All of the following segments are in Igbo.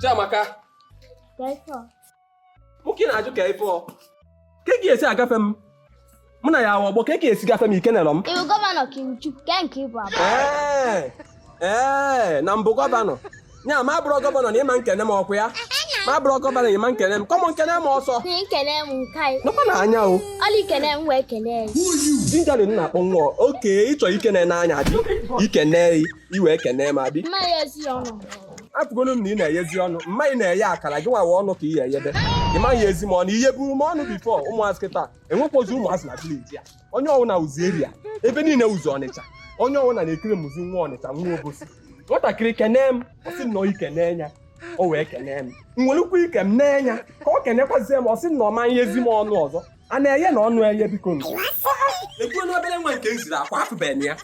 Chiamaka nwoke na-ajụ ka ife ka ga esi agafe m mụ na ya ọgbọ ka ga esi gafe m i kenerọ m ị wụ gọvanọ ka ị wụ chukwu nke ị bụ abụ ee na m bụ gọvanọ ya m abụrọ gọvanọ na ịma nkene m ọkwa ya m abụrọ gọvanọ ịma nkene m come on kene m ọsọ nkene m nke anyị nọkwa na anya o ọla ikene m wee kene ya jinjali m na-akpọ nwa okay ịchọ ikene n'anya dị ikene i wee kene m adị mma ya ezi ọnụ afụgolu m na ị na-eyezi ọnụ mma ị na-eye akara gị nwawa ọnụ ka ị ya eyebe ị ma eyezi m ọnụ i yeburu m ọnụ before ụmụazị kịta enwekwazi ụmụazị na village a onye ọwụna wụzi area ebe niile wụzi ọnịcha onye ọwụna na-ekiri m wụzi nwa ọnịcha nwa obosi nwatakịrị kenee m ọ sị nọ ike n'enya o wee kenee m nwerekwa ike m n'enya ka ọ kenekwazie m ọ sị nọ ma eyezi m ọnụ ọzọ a na-eye na ọnụ eye bikonu ekwuo n'obere nwa nke m ziri akwa afụbeghị m ya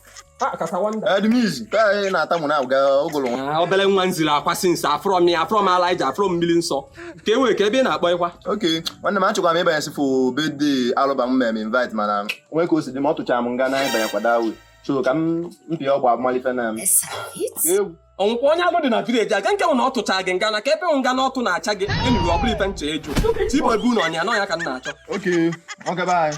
Edmiz, ka anyị na-atamụ na aga ogolo nwa. Ah, obere nwa m ziri akwa since afụrọ m ya afụrọ m ala iji afụrọ m mmiri nsọ ka e nwere ka ebe ị na-akpọ ịkwa Ok, nwanne m achọkwara m ịbanye sifo birthday alụba m mere m invite mana o nwee ka o si dị m ọ tụchara m nga na ịbanye kwada awe so ka m mpị ọgba abụmalife na m egwu ọ wụkwa onye alụ dị na village aga nke nwụ na ọ tụcha gị nga na ka ebe nga na ọtụ na-acha gị enuru ọ bụrụ ife nche eju tibobu na ọnya nọ ya ka m na-achọ Ok, ọ gaba anyị.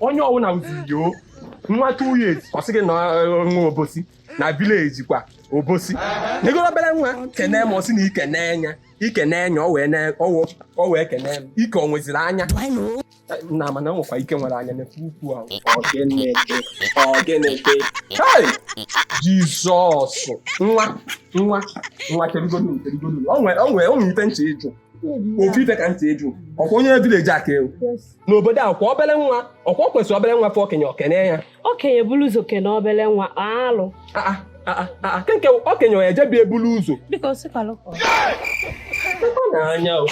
onye ọwụna wụzi yo nwa two years ọ sị gị na eh, nwa obosi na village kwa obosi negoro obere nwa kene m ọ sị na ike n'enya ike n'enya o wee kene m ike o nweziri anya na mana nwekwa ike nwere anya n'efe ukwu ahụ ọgeneke hei Jesus nwa nwa nwa kirigonu kirigonu o nwere ife m chọ ịjụ ofu ife ka m chọ ịjụ ọkwa onye village a ka ị wụ n'obodo a kwa obere nwa ọkwa o kwesịrị obere nwa fụ okenye o kene ya okenye bulu ụzọ kene obere nwa alụ aa aa aa kee nke okenye ọ ejebi ebulu ụzọ biko sikwalụ ka ọ- Ọ na-anya o